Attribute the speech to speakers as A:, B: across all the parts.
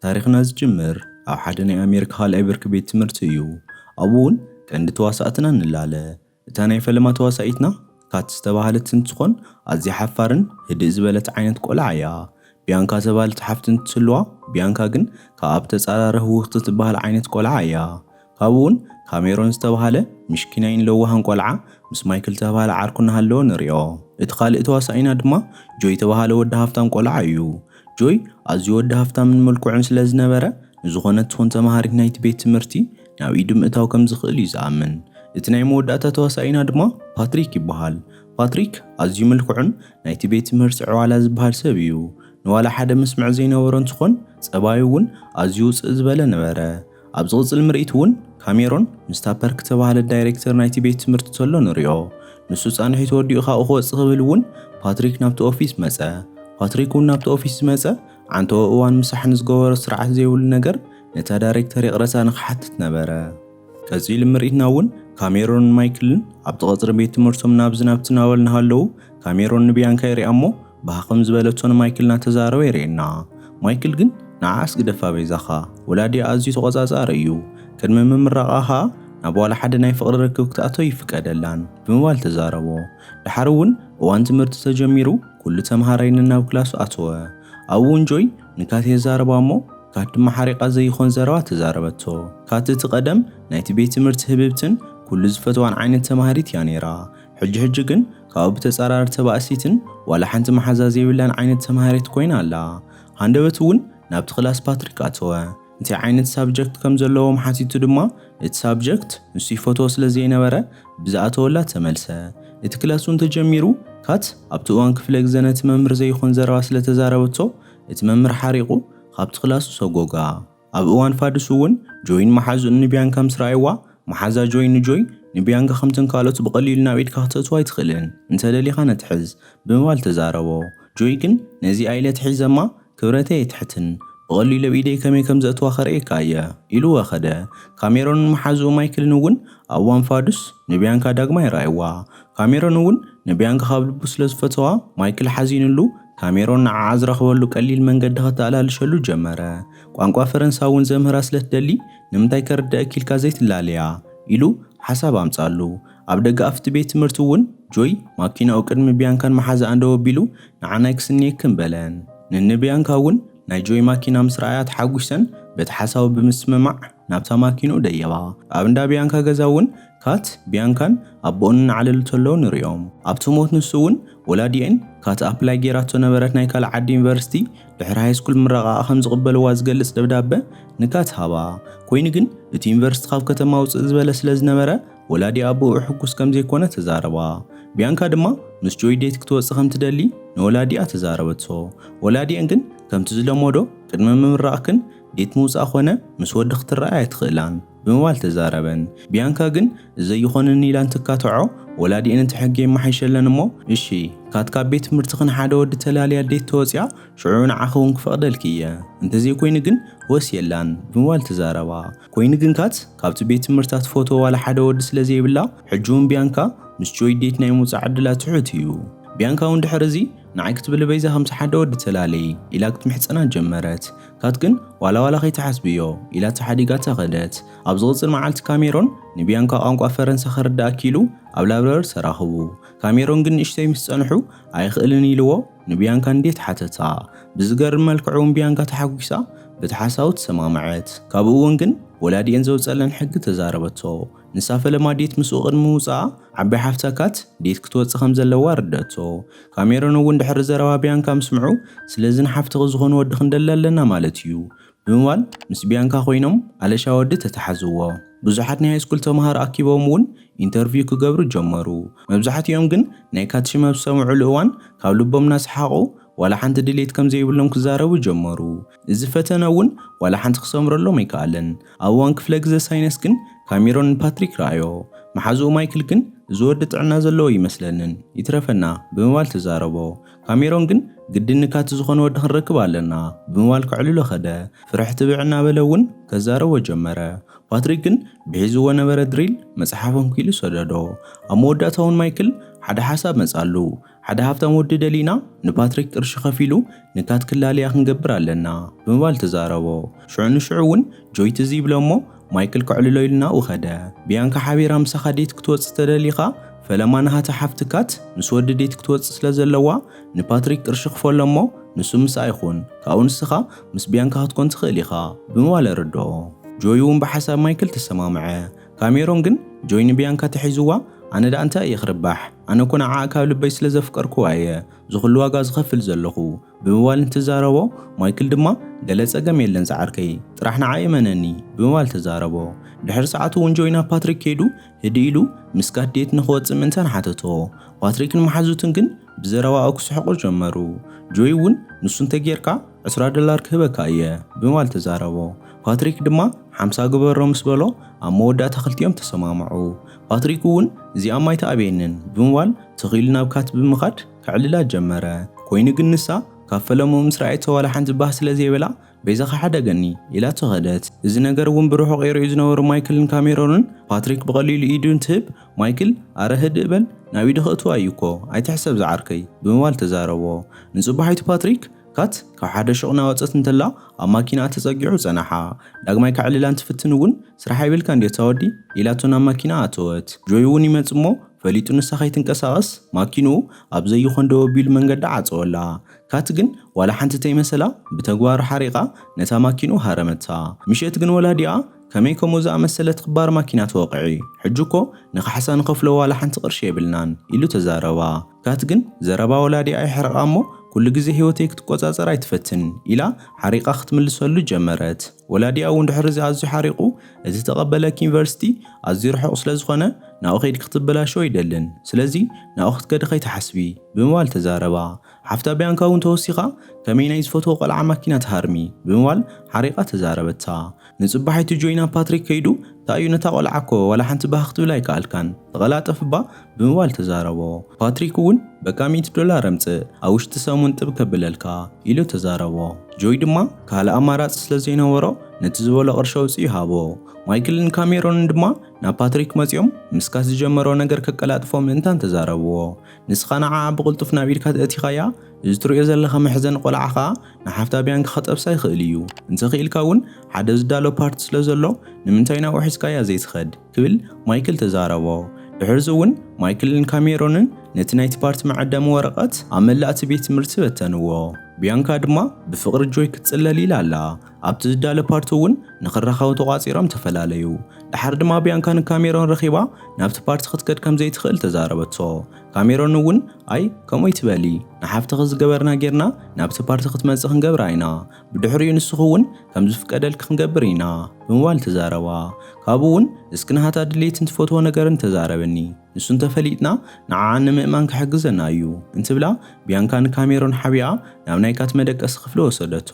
A: ታሪኽና ዝጅምር ኣብ ሓደ ናይ ኣሜሪካ ካልኣይ ብርኪ ቤት ትምህርቲ እዩ። ኣብኡ እውን ቀንዲ ተዋሳእትና ንላለ። እታ ናይ ፈለማ ተዋሳኢትና ካት ዝተባህለት እንትትኾን ኣዝያ ሓፋርን ህድእ ዝበለት ዓይነት ቆልዓ እያ። ቢያንካ ዝተባህለት ሓፍቲ እንትትህልዋ ቢያንካ ግን ካብኣ ብተፃራሪ ህውኽቲ ትባሃል ዓይነት ቆልዓ እያ። ካብኡ'ውን ካሜሮን ዝተባህለ ምሽኪናይን ለዋህን ቆልዓ ምስ ማይክል ዝተባህለ ዓርኩ እናሃለወ ንሪኦ። እቲ ካልእ ተዋሳኣይና ድማ ጆይ ዝተባህለ ወዲ ሃፍታም ቆልዓ እዩ። ጆይ ኣዝዩ ወዲ ሃፍታምን ምልኩዕን ስለ ዝነበረ ንዝኾነት ትኹን ተማሃሪት ናይቲ ቤት ትምህርቲ ናብ ኢዱ ምእታው ከም ዝኽእል እዩ ዝኣምን። እቲ ናይ መወዳእታ ተዋሳኣይና ድማ ፓትሪክ ይበሃል። ፓትሪክ ኣዝዩ ምልኩዕን ናይቲ ቤት ትምህርቲ ዕዋላ ዝበሃል ሰብ እዩ። ንዋላ ሓደ ምስምዕ ዘይነበሮ እንትኾን ፀባዩ'ውን ኣዝዩ ውፅእ ዝበለ ነበረ። ኣብ ዝቕጽል ምርኢት ውን ካሜሮን ምስ ታፐር ክተባህለ ዳይሬክተር ናይቲ ቤት ትምህርቲ ተሎ ንሪኦ። ንሱ ጻንሒቱ ወዲኡ ካብኡ ክወጽእ ክብል ውን ፓትሪክ ናብቲ ኦፊስ መጸ። ፓትሪክ ውን ናብቲ ኦፊስ ዝመጸ ዓንተኦ እዋን ምሳሕ ንዝገበሮ ስርዓት ዘይብሉ ነገር ነታ ዳይሬክተር ይቕረታ ንክሓትት ነበረ። ቀጺሉ ምርኢትና ውን ካሜሮንን ማይክልን ኣብቲ ቀጽሪ ቤት ትምህርቶም ናብዚ ናብቲ ናበሉ ናሃለዉ ካሜሮን ንቢያንካ ይሪኣ እሞ ባህ ከም ዝበለቶ ንማይክል እናተዛረበ የርእየና። ማይክል ግን ንዓኣስ ግደፋ በይዛኻ፣ ወላዲኣ ኣዝዩ ተቖጻጻሪ እዩ፣ ቅድሚ ምምራቓ ከኣ ናብ ዋላ ሓደ ናይ ፍቕሪ ርክብ ክትኣቱ ኣይፍቀደላን ብምባል ተዛረቦ። ደሓር እውን እዋን ትምህርቲ ተጀሚሩ ኩሉ ተመሃራይ ነናብ ክላሱ ኣተወ። ኣብኡ እውን ጆይ ንካቲ የዛርባ እሞ ካት ድማ ሓሪቓ ዘይኾን ዘረባ ተዛረበቶ። ካት እቲ ቀደም ናይቲ ቤት ትምህርቲ ህብብትን ኩሉ ዝፈትዋን ዓይነት ተማሃሪት እያ ነይራ። ሕጂ ሕጂ ግን ካብኡ ብተጻራሪ ተባእሲትን ዋላ ሓንቲ መሓዛ ዘይብላን ዓይነት ተማሃሪት ኮይና ኣላ። ሃንደበት እውን ናብቲ ክላስ ፓትሪክ ኣተወ። እንታይ ዓይነት ሳብጀክት ከም ዘለዎም ሓቲቱ ድማ እቲ ሳብጀክት ንሱ ይፈትዎ ስለ ዘይነበረ ብዝኣተወላ ተመልሰ። እቲ ክላስ እውን ተጀሚሩ ካት ኣብቲ እዋን ክፍለ ግዘ ነቲ መምህር ዘይኾን ዘረባ ስለ ተዛረበቶ እቲ መምህር ሓሪቑ ካብቲ ክላሱ ሰጎጋ። ኣብ እዋን ፋዱስ እውን ጆይን መሓዝኡ ንቢያንካ ምስ ረኣይዋ፣ መሓዛ ጆይ ንጆይ፣ ንቢያንካ ከምተን ካልኦት ብቐሊሉ ናብ ኢድካ ክተእትዋ ኣይትኽእልን፣ እንተደሊኻ ነቲ ሕዝ፣ ብምባል ተዛረቦ። ጆይ ግን ነዚ ኣይለ ትሒዝ እማ፣ ክብረተይ ኣይትሕትን፣ ብቐሊሉ ኣብ ኢደይ ከመይ ከም ዘእትዋ ከርእየካ እየ፣ ኢሉወ ከደ። ካሜሮንን መሓዝኡ ማይክልን እውን ኣብ እዋን ፋዱስ ንቢያንካ ዳግማይ ረኣይዋ። ካሜሮን እውን ንብያንካ ካብ ልቡ ስለ ዝፈተዋ፣ ማይክል ሓዚኑሉ፣ ካሜሮን ንዓኣ ዝረኽበሉ ቀሊል መንገዲ ከተኣላልሸሉ ጀመረ። ቋንቋ ፈረንሳ እውን ዘምህራ ስለ ትደሊ፣ ንምንታይ ከርድኣኪ ኢልካ ዘይትላለያ? ኢሉ ሓሳብ ኣምጽኣሉ። ኣብ ደገ ኣፍ'ቲ ቤት ትምህርቲ እውን፣ ጆይ ማኪናኡ ቅድሚ ብያንካን መሓዛኣን ደው ኣቢሉ፣ ንዓናይ ክስንየክን በለን። ንንብያንካ እውን ናይ ጆይ ማኪና ምስ ረኣያ ተሓጒሰን፣ በቲ ሓሳቡ ብምስምማዕ፣ ናብታ ማኪንኡ ደየባ። ኣብ እንዳ ቢያንካ ገዛ እውን ካት፣ ቢያንካን ኣቦኡን እናዓለሉ ተለዉ ንርእዮም። ኣብቲ ሞት ንሱ እውን ወላዲኤን ካት ኣፕላይ ገይራቶ ነበረት ናይ ካልእ ዓዲ ዩኒቨርሲቲ ድሕሪ ሃይስኩል ምረቓኣ ከም ዝቕበልዋ ዝገልጽ ደብዳበ ንካት ሃባ። ኮይኑ ግን እቲ ዩኒቨርሲቲ ካብ ከተማ ውጽእ ዝበለ ስለ ዝነበረ ወላዲኣ ብእኡ ሕጉስ ከም ዘይኮነ ተዛረባ። ቢያንካ ድማ ምስ ጆይ ዴት ክትወጽእ ከም ትደሊ ንወላዲኣ ተዛረበቶ። ወላዲኤን ግን ከምቲ ዝለመዶ ቅድሚ ምምራቕክን ዴት ምውጻእ ኮነ ምስ ወዲ ክትራኣይ ኣይትኽእላን ብምባል ተዛረበን። ቢያንካ ግን እዘይኾነኒ ኢላ እንትካትዖ፣ ወላዲኤን እቲ ሕጊ የማሓይሸለን እሞ እሺ ካትካ ኣብ ቤት ትምህርትኺ ንሓደ ወዲ ተላልያ ዴት ተወጺኣ ሽዑ ንዓኺ እውን ክፈቕደልኪ እየ እንተዘይኮይኑ ግን ወስየላን ብምባል ተዛረባ። ኮይኑ ግን ካት ካብቲ ቤት ትምህርታ ትፈትዎ ዋላ ሓደ ወዲ ስለዘይብላ ሕጂ እውን ቢያንካ ምስ ጆይ ዴት ናይ ምውጻእ ዕድላ ትሑት እዩ። ቢያንካ እውን ድሕሪ እዚ ንዓይ ክትብሊ በይዛ ከምቲ ሓደ ወዲ ተላለዪ ኢላ ክትምሕጸና ጀመረት። ካት ግን ዋላ ዋላ ከይትሓስብዮ ኢላ ተሓዲጋታ ከደት። ኣብ ዝቕጽል መዓልቲ ካሜሮን ንቢያንካ ቋንቋ ፈረንሳ ከርድኣ ኪኢሉ ኣብ ላብረሪ ተራኽቡ። ካሜሮን ግን ንእሽተይ ምስ ጸንሑ ኣይኽእልን ኢልዎ ንቢያንካ ንዴት ሓተታ። ብዝገርም መልክዕ'ውን ቢያንካ ተሓጒሳ በቲ ሓሳቡ ተሰማምዐት። ካብኡ'ውን ግን ወላዲኤን ዘውጸለን ሕጊ ተዛረበቶ። ንሳ ፈለማ ዴት ምስኡ ቅድሚ ምውጽኣ፣ ዓባይ ሓፍታ ካት፣ ዴት ክትወጽእ ከም ዘለዋ ኣረድኣቶ። ካሜሮን እውን ድሕሪ ዘረባ ቢያንካ ምስምዑ፣ ስለዚ ንሓፍትኺ ዝኾኑ ወዲ ክንደሊ ኣለና ማለት እዩ። ብምባል ምስ ቢያንካ ኮይኖም ኣለሻ ወዲ ተታሓዝዎ። ብዙሓት ናይ ሃይስኩል ተማሃሮ ኣኪቦም እውን ኢንተርቪው ክገብሩ ጀመሩ። መብዛሕቲኦም ግን ናይ ካት ሽም ኣብ ዝሰምዑሉ እዋን ካብ ልቦም እናሰሓቑ ዋላ ሓንቲ ድሌት ከም ዘይብሎም ክዛረቡ ጀመሩ። እዚ ፈተነ እውን ዋላ ሓንቲ ክሰምረሎም ኣይከኣለን። ኣብ እዋን ክፍለ ግዘ ሳይነስ ግን ካሜሮን ንፓትሪክ ረኣዮ። መሓዝኡ ማይክል ግን እዚ ወዲ ጥዕና ዘለዎ ኣይመስለንን፣ ይትረፈና ብምባል ተዛረቦ። ካሜሮን ግን ግድን ንካቲ ዝኾነ ወዲ ክንረክብ ኣለና ብምባል ከዕልሎ ከደ። ፍርሒ ትብዕ እናበለ እውን ከዛረቦ ጀመረ። ፓትሪክ ግን ብሒዝዎ ነበረ ድሪል መፅሓፍ ኣንኪሉ ሰደዶ። ኣብ መወዳእታ እውን ማይክል ሓደ ሓሳብ መፃሉ። ሓደ ሃብታም ወዲ ደሊና ንፓትሪክ ቅርሺ ከፊሉ ንካት ክላለያ ክንገብር ኣለና ብምባል ተዛረቦ። ሽዑ ንሽዑ እውን ጆይ ትዝ ይብሎ እሞ ማይክል ከዕልሎ ኢሉ ናብኡ ከደ። ብያንካ ሓቢራ ምሳኻ ዴት ክትወጽእ ተደሊኻ ፈለማ ናሃታ ሓፍቲ ካት ምስ ወዲ ዴት ክትወጽእ ስለ ዘለዋ ንፓትሪክ ቅርሺ ክፈሎ እሞ ንሱ ምስኣ ይኹን ካብኡ ንስኻ ምስ ብያንካ ክትኮን ትኽእል ኢኻ ብምባል ኣረድኦ። ጆይ እውን ብሓሳብ ማይክል ተሰማምዐ። ካሜሮን ግን ጆይ ንቢያንካ ተሒዝዋ ኣነ ድኣ እንታይ እየ ክርባሕ ኣነ እኮ ንዓኣ ካብ ልበይ ስለ ዘፍቀርክዋ እየ ዝኹሉ ዋጋ ዝኸፍል ዘለኹ ብምባል እንትዛረቦ ማይክል ድማ ገለ ጸገም የለን ጻዕርከይ ጥራሕ ንዓይ እመነኒ ብምባል ተዛረቦ ድሕሪ ሰዓት እውን ጆይ ናብ ፓትሪክ ከይዱ ህድእ ኢሉ ምስ ጋት ዴት ንኽወጽእ ምእንታን ሓተቶ ፓትሪክን መሓዙትን ግን ብዘረባኡ ክስሕቑ ጀመሩ። ጆይ እውን ንሱ እንተጌርካ ዕስራ ደላር ክህበካ እየ ብማል ተዛረቦ። ፓትሪክ ድማ ሓምሳ ግበሮ ምስ በሎ ኣብ መወዳእታ ክልቲኦም ተሰማምዑ። ፓትሪክ እውን እዚኣ እማ ኣይትኣብየንን ብምባል ትኽ ኢሉ ናብ ካት ብምኻድ ከዕልላ ጀመረ። ኮይኑ ግን ንሳ ካብ ፈለምኡ ምስ ረኣየቶ ዋላ ሓንቲ ባህ ስለ ዘይበላ በይዛኻ ሓደገኒ! ኢላቶ ከደት። እዚ ነገር እውን ብርሑቕ ይርእዩ ዝነበሩ ማይክልን ካሜሮንን፣ ፓትሪክ ብቐሊሉ ኢዱ እንትህብ፣ ማይክል፣ ኣረ ህድእ በል፣ ናብ ኢዱ ከእትዋ እዩ እኮ፣ ኣይትሕሰብ ዝዓርከይ፣ ብምባል ተዛረቦ። ንጽባሒቱ ፓትሪክ፣ ካት ካብ ሓደ ሹቕ እናወጸት እንተላ ኣብ ማኪናኣ ተጸጊዑ ጸነሓ። ዳግማይ ከዕልላ እንትፍትን እውን፣ ስራሕ ኣይብልካን ድዩ ኣታ ወዲ? ኢላቶ ናብ ማኪናኣ ኣተወት። ጆይ እውን ይመጽእ እሞ፣ ፈሊጡ ንሳ ከይትንቀሳቐስ፣ ማኪንኡ ኣብ ዘይኾን ደው ኣቢሉ መንገዳ ዓጸወላ። ካቲ ግን ዋላ ሓንቲ ተይመሰላ ብተግባር ሓሪቓ ነታ ማኪኑ ሃረመታ። ምሸት ግን ወላዲኣ ከመይ ከምኡ ዝኣመሰለት ኽባር ማኪና ትወቕዒ? ሕጂ እኮ ንኻሕሳ ንኸፍሎ ዋላ ሓንቲ ቕርሺ የብልናን ኢሉ ተዛረባ። ካቲ ግን ዘረባ ወላዲኣ የሕርቓ እሞ ኩሉ ግዜ ህይወተይ ክትቆጻጸር ኣይትፈትን ኢላ ሓሪቓ ኽትምልሰሉ ጀመረት። ወላዲኣ እውን ድሕሪዚ ኣዝዩ ሓሪቑ እቲ ተቐበለኪ ዩኒቨርሲቲ ኣዝዩ ርሑቕ ስለ ዝኾነ ናብኡ ኸይድኪ ኽትበላሸው ኣይደልን ስለዚ ናብኡ ኽትከዲ ኸይትሓስቢ ብምባል ተዛረባ። ሓፍታ ቢያንካ እውን ተወሲኻ፣ ከመይ ናይ ዝፈትዎ ቆልዓ ማኪና ትሃርሚ? ብምባል ሓሪቓ ተዛረበታ። ንጽባሒቱ ጆይ ናብ ፓትሪክ ከይዱ፣ ታይ እዩ ነታ ቆልዓ እኮ ዋላ ሓንቲ ባህ ክትብላ ኣይከኣልካን፣ ተቐላጠፍ እባ፣ ብምባል ተዛረቦ። ፓትሪክ እውን በቃ ሚእቲ ዶላር ኣምጽእ፣ ኣብ ውሽጢ ሰሙን ጥብ ከብለልካ፣ ኢሉ ተዛረቦ። ጆይ ድማ ካልእ ኣማራጺ ስለ ዘይነበሮ ነቲ ዝበሎ ቅርሺ ኣውጺኡ ሃቦ። ማይክልን ካሜሮንን ድማ ናብ ፓትሪክ መጺኦም ምስካስ ዝጀመሮ ነገር ከቀላጥፎ ምእንታን ተዛረብዎ። ንስኻ ንዓኣ ብቕልጡፍ ናብ ኢድካ ተእቲኻያ፣ እዚ ትርእዮ ዘለኻ መሕዘኒ ቆልዓ ከኣ ንሓፍታ ብያንኪ ከጠብሳ ይኽእል እዩ። እንተኽኢልካ እውን ሓደ ዝዳሎ ፓርቲ ስለ ዘሎ ንምንታይ ናብኡ ሒዝካያ ዘይትኸድ? ክብል ማይክል ተዛረቦ። ድሕርዚ እውን ማይክልን ካሜሮንን ነቲ ናይቲ ፓርቲ መዐደሚ ወረቐት ኣብ መላእ እቲ ቤት ትምህርቲ በተንዎ። ብያንካ ድማ ብፍቕሪ ጆይ ክትጽለል ኢላ ኣላ። ኣብቲ ዝዳለ ፓርቲ እውን ንክራኸቡ ተቋጺሮም ተፈላለዩ። ደሓር ድማ ቢያንካ ንካሜሮን ረኺባ ናብቲ ፓርቲ ክትከድ ከምዘይትኽእል ተዛረበቶ። ካሜሮን እውን ኣይ ከምኡ ኣይትበሊ ንሓፍትኺ ዝገበርና ጌርና ናብቲ ፓርቲ ክትመጽእ ክንገብራ ኢና። ብድሕሪኡ ንስኺ እውን ከምዝፍቀደልኪ ክንገብር ኢና ብምባል ተዛረባ። ካብኡ እውን እስኪ ናሃታ ድሌትን ትፈትዎ ነገርን ተዛረብኒ። ንሱ እንተፈሊጥና ንዓኣ ንምእማን ክሕግዘና እዩ እንትብላ ቢያንካ ንካሜሮን ሓቢኣ ናብ ናይ ካት መደቀሲ ክፍሊ ወሰደቶ።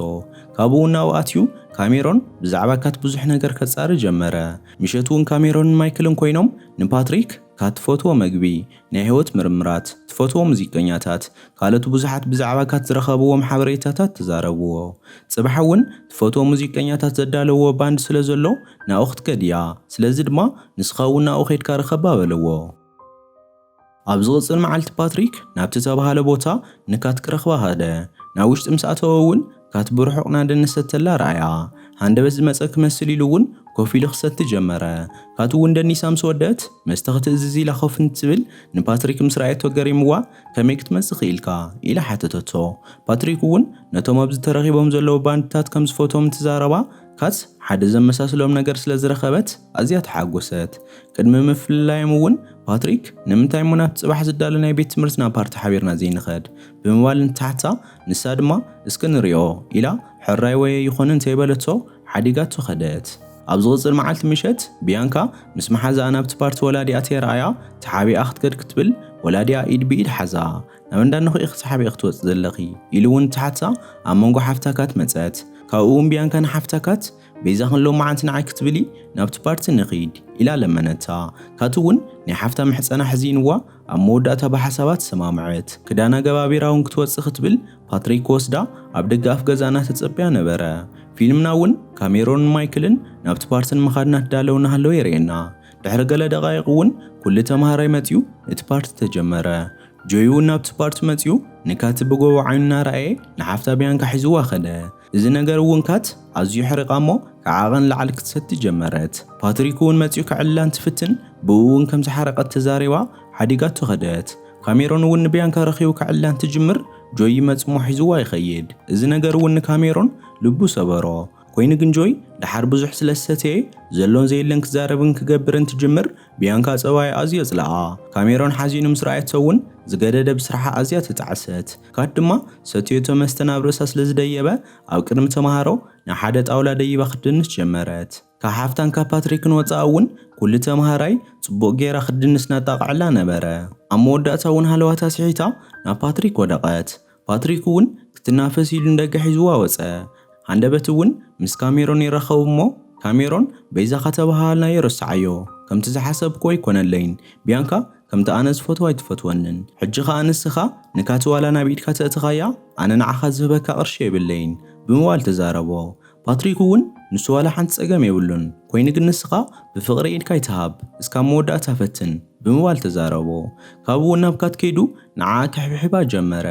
A: ካብኡ ናብኡ ኣትዩ ካሜሮን ብዛዕባ ካት ብዙሕ ነገር ከጻሪ ጀመረ። ምሸት እውን ካሜሮንን ማይክልን ኮይኖም ንፓትሪክ ካት ትፈትዎ መግቢ፣ ናይ ህይወት ምርምራት፣ ትፈትዎ ሙዚቀኛታት፣ ካልኦት ብዙሓት ብዛዕባ ካት ዝረኸብዎም ሓበሬታታት ተዛረብዎ። ጽባሕ እውን ትፈትዎ ሙዚቀኛታት ዘዳለውዎ ባንድ ስለዘሎ ናብኡ ክትከድ እያ፣ ስለዚ ድማ ንስኻ እውን ናብኡ ኼድካ ርኸባ በለዎ። ኣብ ዝቕጽል መዓልቲ ፓትሪክ ናብቲ እተባህለ ቦታ ንካት ክረኽባ ኸደ። ናብ ውሽጢ ምስ ኣተወ እውን ካት ብርሑቕ ናደን ንሰተላ ረኣያ። ሃንደበት ዝመጸ ክመስል ኢሉ እውን ኮፍ ኢሉ ክሰቲ ጀመረ። ካት እውን ደኒሳ ምስ ወደእት መስተ ክትእዝዝ ኢላ ኮፍ እንትብል ንፓትሪክ ምስ ረኣየቶ ገሪምዋ ከመይ ክትመጽእ ክኢልካ? ኢላ ሓተተቶ። ፓትሪክ እውን ነቶም ኣብዚ ተረኺቦም ዘለዉ ባንድታት ከም ዝፈትዎም እንትዛረባ ካት ሓደ ዘመሳስሎም ነገር ስለ ዝረኸበት ኣዝያ ተሓጐሰት። ቅድሚ ምፍልላዮም እውን ፓትሪክ፣ ንምንታይ እሞ ናብቲ ጽባሕ ዝዳሎ ናይ ቤት ትምህርትና ፓርቲ ሓቢርና ዘይንኸድ? ብምባል እንትሓትታ፣ ንሳ ድማ እስከ ንሪኦ ኢላ ሕራይ ወየ ይኾኑ እንተይበለቶ ሓዲጋቶ ከደት። ኣብ ዝቕጽል መዓልቲ ምሸት፣ ብያንካ ምስ መሓዛኣ ናብቲ ፓርቲ ወላዲኣ ተራእያ፣ ተሓቢኣ ክትከድ ክትብል ወላዲኣ ኢድ ብኢድ ሓዛ። ናብ እንዳ እነኹ ኢኺ ተሓቢእኺ ትወጺ ዘለኺ? ኢሉ እውን እንትሓትታ፣ ኣብ መንጎ ሓፍታ ካት መጸት። ካብኡ እውን ብያንካ ንሓፍታ ካት፣ በይዛኽን ሎመዓንቲ ንዓይ ክትብሊ ናብቲ ፓርቲ ንኺድ ኢላ ለመነታ። ካቲ እውን ናይ ሓፍታ ምሕፀና ሕዚንዋ ኣብ መወዳእታ ብሓሳባ ተሰማምዐት። ክዳና ገባቢራ እውን ክትወፅእ ክትብል ፓትሪክ ክወስዳ ኣብ ደገ ኣፍ ገዛና ተፀብያ ነበረ። ፊልምና እውን ካሜሮንን ማይክልን ናብቲ ፓርቲ ንምኻድ እናተዳለው እናሃለው የርእየና። ድሕሪ ገለ ደቓይቕ እውን ኩሉ ተምሃራይ መፂኡ እቲ ፓርቲ ተጀመረ። ጆይ እውን ናብቲ ፓርቲ መፂኡ ንካቲ ብጎቦ ዓይኑ እናረኣየ ንሓፍታ ብያንካ ሒዝዋ ከደ። እዚ ነገር እውን ካት ኣዝዩ ሕሪቓ እሞ ከዓቐ ንላዕሊ ክትሰቲ ጀመረት። ፓትሪክ እውን መጺኡ ከዕልላ እንትፍትን ብእኡ እውን ከም ዝሓረቐት ተዛሪባ ሓዲጋቶ ከደት። ካሜሮን እውን ንብያንካ ረኺቡ ከዕልላ እንትጅምር ጆይ ይመጽእ እሞ ሒዝዋ ይኸይድ። እዚ ነገር እውን ንካሜሮን ልቡ ሰበሮ። ኮይኑ ግን ጆይ ደሓር ብዙሕ ስለ ዝሰተየ ዘሎን ዘየለን ክዛረብን ክገብርን እንትጅምር ብያንካ ጸባይ ኣዝዮ ጽልኣ። ካሜሮን ሓዚኑ ምስ ረኣየቶ ውን ዝገደደ ብስርሓ ኣዝያ ተጣዕሰት። ካት ድማ ሰትዮቶ መስተ ናብ ርእሳ ስለ ዝደየበ ኣብ ቅድሚ ተማሃሮ ናብ ሓደ ጣውላ ደይባ ክትድንስ ጀመረት። ካብ ሓፍታን ካብ ፓትሪክን ወጻኢ ውን ኩሉ ተማሃራይ ጽቡቕ ጌራ ክትድንስ ናጣቕዐላ ነበረ። ኣብ መወዳእታ ውን ሃለዋታ ስሒታ ናብ ፓትሪክ ወደቐት። ፓትሪክ እውን ክትናፈስ ኢሉ ንደገ ሒዝዋ ወጸ። ሃንደበት እውን ምስ ካሜሮን ይራኸቡ እሞ ካሜሮን በይዛኻ ተበሃሃልናዮ ረስዓዮ። ከምቲ ዝሓሰብክዎ ኣይኮነለይን። ቢያንካ ከምቲ ኣነ ዝፈትዋ ኣይትፈትወንን። ሕጂ ከኣ ንስኻ ንካቲ ዋላ ናብ ኢድካ ተእትኻያ ኣነ ንዓኻ ዝህበካ ቅርሺ የብለይን። ብምባል ተዛረቦ። ፓትሪክ ውን ንሱ ዋላ ሓንቲ ጸገም የብሉን፣ ኮይኑ ግን ንስኻ ብፍቕሪ ኢድካ ኣይትሃብ፣ እስካብ መወዳእታ ፈትን፣ ብምባል ተዛረቦ። ካብኡ ውን ናብ ካት ከይዱ ንዓኣ ክሕብሕባ ጀመረ።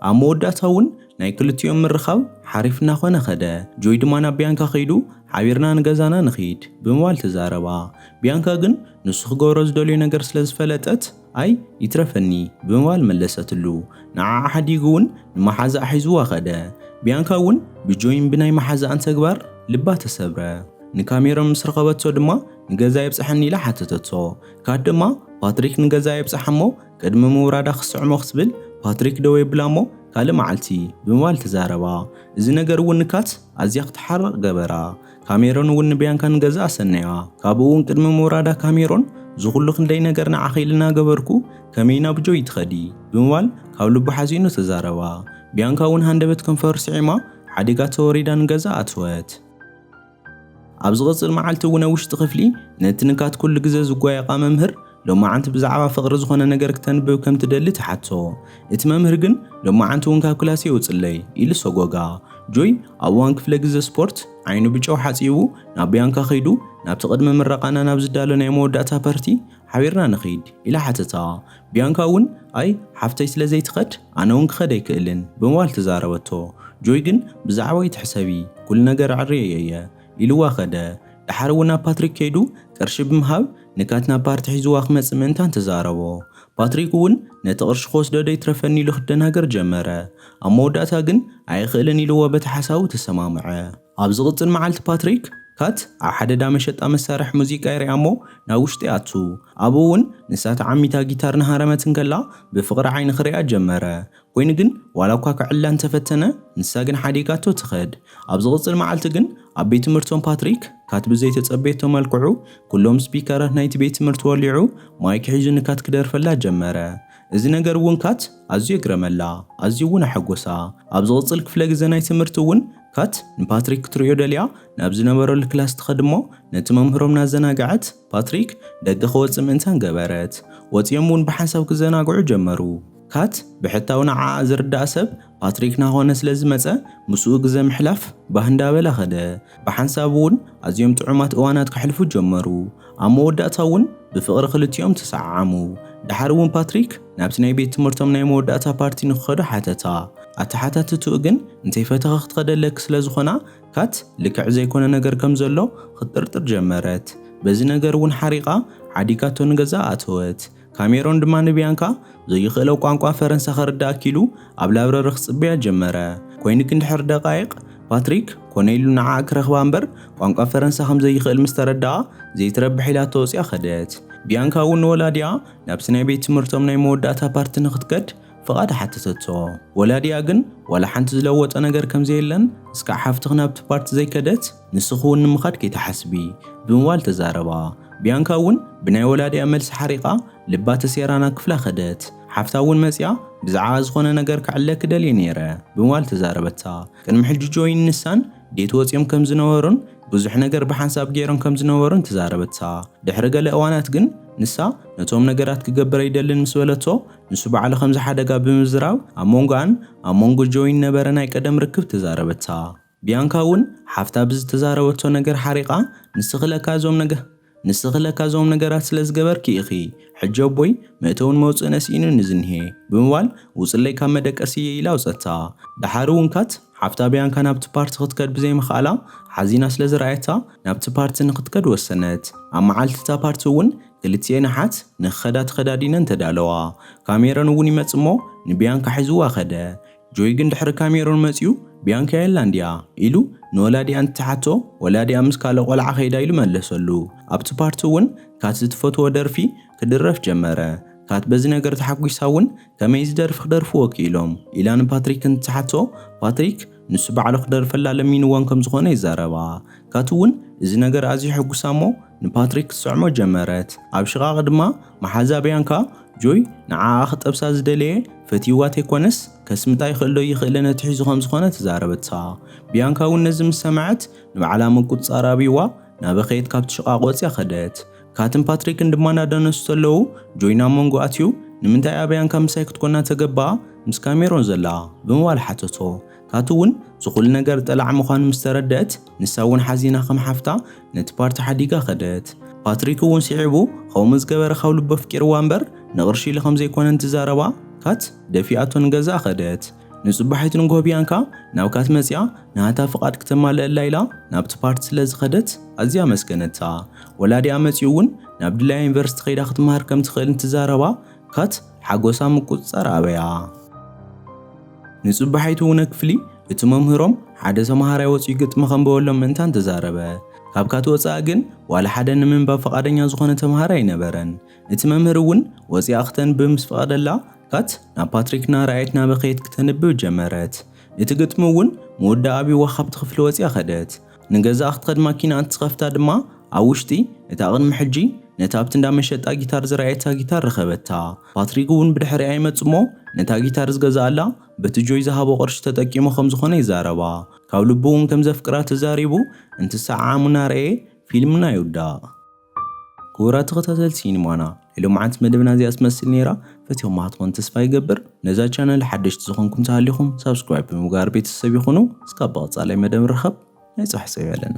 A: ኣብ መወዳእታ ውን ናይ ክልቲኦም ምርኻብ ሓሪፍ እናኾነ ከደ። ጆይ ድማ ናብ ቢያንካ ከይዱ ሓቢርና ንገዛና ንኺድ፣ ብምባል ተዛረባ። ቢያንካ ግን ንሱ ክገብሮ ዝደልዮ ነገር ስለ ዝፈለጠት፣ ኣይ ይትረፈኒ ብምባል መለሰትሉ። ንዓዓ ሓዲጉ እውን ንመሓዛኣ ሒዙዋ ከደ። ቢያንካ እውን ብጆይን ብናይ መሓዛኣን ተግባር ልባ ተሰብረ። ንካሜሮን ምስ ረኸበቶ ድማ ንገዛይ ኣብፀሐኒ ኢላ ሓተተቶ። ካት ድማ ፓትሪክ ንገዛይ ኣብፀሓ እሞ ቅድሚ ምውራዳ ክስዕሞ ክትብል ፓትሪክ ደው የብላ እሞ ካልእ መዓልቲ ብምባል ተዛረባ። እዚ ነገር እውን ንካት ኣዝያ ክትሓርቕ ገበራ። ካሜሮን እውን ንቢያንካ ንገዛ ኣሰነያ። ካብኡ እውን ቅድሚ ምውራዳ ካሜሮን እዚ ኩሉ ክንደይ ነገር ንዓኺ ኢሊ እናገበርኩ ከመይ ናብ ጆይ ትኸዲ? ብምባል ካብ ልቡ ሓዚኑ ተዛረባ። ቢያንካ እውን ሃንደበት ከንፈሩ ስዒማ ሓዲጋ ተወሪዳ ንገዛ ኣተወት። ኣብ ዝቕጽል መዓልቲ እውን ኣብ ውሽጢ ክፍሊ ነቲ ንካት ኩሉ ግዘ ዝጓየቓ መምህር ሎማዓንቲ ብዛዕባ ፍቕሪ ዝኾነ ነገር ክተንብብ ከም ትደሊ ትሓቶ። እቲ መምህር ግን ሎማዓንቲ እውን ካብ ክላሰይ ውጽለይ ኢሉ ሰጎጋ። ጆይ ኣብ እዋን ክፍለ ግዘ ስፖርት ዓይኑ ብጨው ሓጺቡ ናብ ብያንካ ከይዱ ናብቲ ቅድሚ ምረቓና ናብ ዝዳሎ ናይ መወዳእታ ፐርቲ ሓቢርና ንኺድ ኢላ ሓተታ። ብያንካ እውን ኣይ ሓፍተይ ስለ ዘይትኸድ ኣነ እውን ክኸድ ኣይክእልን ብምባል ተዛረበቶ። ጆይ ግን ብዛዕባ ኣይትሕሰቢ ኩሉ ነገር ኣዕርየዮ እየ ኢሉዋ ከደ። ደሓር እውን ናብ ፓትሪክ ከይዱ ቅርሺ ብምሃብ ንካት ናብ ፓርቲ ሒዝዋ ክመጽእ ምእንታን ተዛረቦ። ፓትሪክ እውን ነቲ ቅርሺ ክወስዶ ዶ ይትረፈኒ ኢሉ ክደናገር ጀመረ። ኣብ መወዳእታ ግን ኣይኽእልን ኢልዎ በቲ ሓሳቡ ተሰማምዐ። ኣብ ዝቕጽል መዓልቲ ፓትሪክ፣ ካት ኣብ ሓደ ዳ መሸጣ መሳርሒ ሙዚቃ ይሪኣ እሞ ናብ ውሽጢ ይኣቱ። ኣብኡ እውን ንሳ ተዓሚታ ጊታር እናሃረመት እንከላ ብፍቕሪ ዓይኒ ክሪኣ ጀመረ። ኮይኑ ግን ዋላ እኳ ክዕለ እንተ ፈተነ ንሳ ግን ሓዲጋቶ ትኸድ። ኣብ ዝቕጽል መዓልቲ ግን ኣብ ቤት ትምህርቶም ፓትሪክ ካት ብዘይ ተጸበየቶ መልክዑ ኩሎም ስፒከራት ናይቲ ቤት ትምህርቲ ወሊዑ ማይክ ሒዙ ንካት ክደርፈላ ጀመረ። እዚ ነገር እውን ካት ኣዝዩ የግረመላ ኣዝዩ እውን ኣሐጎሳ። ኣብ ዝቕጽል ክፍለ ግዘ ናይ ትምህርቲ እውን ካት ንፓትሪክ ክትርእዮ ደልያ ናብ ዝነበረሉ ክላስ ትኸድ እሞ ነቲ መምህሮም እናዘናገዐት ፓትሪክ ደገ ክወጽእ ምእንታን ገበረት። ወጺኦም እውን ብሓንሳብ ክዘናግዑ ጀመሩ። ካት ብሕታዊ ንዓኣ ዝርድኣ ሰብ ፓትሪክ ናኾነ ስለ ዝመጸ ምስኡ ግዘ ምሕላፍ ባህ እንዳበላ ከደ። ብሓንሳብ እውን ኣዝዮም ጥዑማት እዋናት ከሕልፉ ጀመሩ። ኣብ መወዳእታ እውን ብፍቕሪ ክልቲኦም ተሰዓዓሙ። ደሓር እውን ፓትሪክ ናብቲ ናይ ቤት ትምህርቶም ናይ መወዳእታ ፓርቲ ንክኸዱ ሓተታ። ኣተሓታትትኡ ግን እንተይፈተኺ ክትኸደለኪ ስለ ዝኾና ካት ልክዕ ዘይኮነ ነገር ከም ዘሎ ኽትጥርጥር ጀመረት። በዚ ነገር እውን ሓሪቓ ዓዲጋቶ ንገዝኣ ኣተወት። ካሜሮን ድማ ንብያንካ ዘይኽእሎ ቋንቋ ፈረንሳ ኸርድኣ ኪሉ ኣብ ላብረሪ ኽጽበያ ጀመረ። ኰይኑ ግን ድሕሪ ደቓይቕ ፓትሪክ ኮነ ኢሉ ንዓኣ ኪረኽባ እምበር ቋንቋ ፈረንሳ ኸም ዘይኽእል ምስ ተረድኣ ዘይትረብሕ ኢላቶ ወጺኣ ኸደት። ብያንካ እውን ንወላዲኣ ናብቲ ናይ ቤት ትምህርቶም ናይ መወዳእታ ፓርቲ ንኽትከድ ፍቓድ ሓተተቶ። ወላዲኣ ግን ዋላ ሓንቲ ዝለወጠ ነገር ከም ዘየለን እስካዕ ሓፍትኺ ናብቲ ፓርቲ ዘይከደት ንስኺ እውን ንምኻድ ከይትሓስቢ ብምባል ተዛረባ። ብያንካ እውን ብናይ ወላዲኣ መልሲ ሓሪቓ ልባ ተሴራ ናብ ክፍላ ከደት። ሓፍታ እውን መጺኣ ብዝዓኣ ዝኾነ ነገር ክዕለኪ ደልየ ነይረ ብምባል ተዛረበታ። ቅድሚ ሕጂ ጆይን ንሳን ዴት ወጺኦም ከም ዝነበሩን ብዙሕ ነገር ብሓንሳብ ገይሮም ከም ዝነበሩን ተዛረበታ። ድሕሪ ገለ እዋናት ግን ንሳ ነቶም ነገራት ክገብር ኣይደልን ምስ በለቶ ንሱ ባዕሉ ከምዚ ሓደጋ ብምዝራብ ኣብ መንጎኣን ኣብ መንጎ ጆይን ነበረ ናይ ቀደም ርክብ ተዛረበታ። ቢያንካ እውን ሓፍታ ብዝተዛረበቶ ነገር ሓሪቓ ንስኺ ለካ እዞም ነገ ንስኺ ለካ እዞም ነገራት ስለ ዝገበርኪ ኢኺ ሕጂ ኣቦይ መእተውን መውጽእን ኣስኢኑኒ ዝኒሄ ብምባል ውጽለይ ካብ መደቀሲየይ ኢላ ኣውጸታ። ደሓር እውን ካት ሓፍታ ቢያንካ ናብቲ ፓርቲ ክትከድ ብዘይምኽኣላ ሓዚና ስለ ዝረኣየታ ናብቲ ፓርቲ ንኽትከድ ወሰነት። ኣብ መዓልቲ እታ ፓርቲ እውን ክልቲኤን ኣሓት ንክኸዳ ተኸዳዲነን ተዳለዋ። ካሜሮን እውን ይመጽእ እሞ ንቢያንካ ሒዝዋ ከደ። ጆይ ግን ድሕሪ ካሜሮን መጺኡ ቢያንካ የላን ድያ? ኢሉ ንወላዲኣ እንትሓቶ ወላዲኣ ምስ ካልእ ቆልዓ ከይዳ ኢሉ መለሰሉ። ኣብቲ ፓርቲ እውን ካት ዝትፈትዎ ደርፊ ክድረፍ ጀመረ። ካት በዚ ነገር ተሓጒሳ እውን ከመይ እዚ ደርፊ ክደርፍዎ ክኢሎም? ኢላ ንፓትሪክ እንትትሓቶ ፓትሪክ ንሱ ባዕሉ ክደርፈላ ለሚንወን ከም ዝኾነ ይዛረባ። ካቲ እውን እዚ ነገር ኣዝዩ ሕጉሳ እሞ ንፓትሪክ ክትስዕሞ ጀመረት። ኣብ ሽቓቕ ድማ መሓዛ ብያንካ፣ ጆይ ንዓኣ ክጠብሳ ዝደለየ ፈትይዋ ተይኮነስ ከስምጣ ይኽእልዶ ኣይኽእልን ኣትሒዙ ከም ዝኾነ ተዛረበታ። ብያንካ እውን ነዚ ምስ ሰምዐት ንባዕላ ምቁጽጻር ኣብይዋ እናበኸየት ካብቲ ሽቓቕ ወጽያ ከደት። ካትን ፓትሪክን ድማ ናዳነሱ ተለዉ ጆይን ኣብ መንጎ ኣትዩ ንምንታይ ኣበያንካ ምሳይ ክትኮና ተገባኣ ምስ ካሜሮን ዘላ ብምባል ሓተቶ ካቲ ውን ዝኹሉ ነገር ጠላዕ ምዃኑ ምስ ተረደእት ንሳ ውን ሓዚና ከም ሓፍታ ነቲ ፓርቲ ሓዲጋ ከደት ፓትሪክ ውን ሲዒቡ ኸምኡ ዝገበረ ካብ ልቡ ኣፍቂርዋ እምበር ንቕርሺ ኢሉ ከምዘይኮነ እንትዛረባ ካት ደፊኣቶ ንገዛኣ ከደት ንጽባሒት ንግሆ ቢያንካ ናብካ ትመጽኣ ናታ ፍቓድ ክተማልእላ ኢላ ናብቲ ፓርቲ ስለ ዝኸደት ኣዝያ ኣመስገነታ። ወላዲኣ መጺኡ እውን ናብ ድላያ ዩኒቨርሲቲ ከይዳ ክትመሃር ከም ትኽእል እንትዛረባ ካት ሓጎሳ ምቁጽጻር ኣበያ። ንጽባሒት እውነ ክፍሊ እቲ መምህሮም ሓደ ተመሃራይ ወጺኡ ግጥሚ ከንበበሎም ምእንታን ተዛረበ። ካብ ካት ወጻኢ ግን ዋላ ሓደ ንምንባብ ፍቓደኛ ዝኾነ ተመሃራይ ኣይነበረን። እቲ መምህር እውን ወጺኣ ክተንብብ ምስ ፈቐደላ ካት ናብ ፓትሪክና ረኣየትና በኸየት ክተንብብ ጀመረት። እቲ ግጥሚ እውን መወዳእ ኣብዩዋ ካብቲ ክፍሊ ወጺኣ ከደት። ንገዛኣ ክትኸድ ማኪና እንትትኸፍታ ድማ ኣብ ውሽጢ እታ ቅድሚ ሕጂ ነታ ኣብቲ እንዳ መሸጣ ጊታር ዝረኣየታ ጊታር ረኸበታ። ፓትሪክ እውን ብድሕሪኣ ይመጽእ እሞ ነታ ጊታር ዝገዝኣላ በቲ ጆይ ዝሃቦ ቅርሺ ተጠቂሙ ከም ዝኾነ ይዛረባ። ካብ ልቡ እውን ከም ዘፍቅራ ተዛሪቡ እንትሰዓዓሙ እናረኣየ ፊልም እናይውዳእ። ክቡራት ተኸታተልቲ ሲኒማና ሎምዓንቲ መደብና እዚኣ ትመስል ነይራ ፈቲኹማ ትኾን ተስፋ ይገብር ነዛ ቻነል ሓደሽቲ ዝኾንኩም ተሃሊኹም ሳብስክራይብ ብምግባር ቤተሰብ ይኹኑ እስካብ ብቐፃላይ መደብ ንራኸብ ናይ ፅባሕ ሰብ ያለና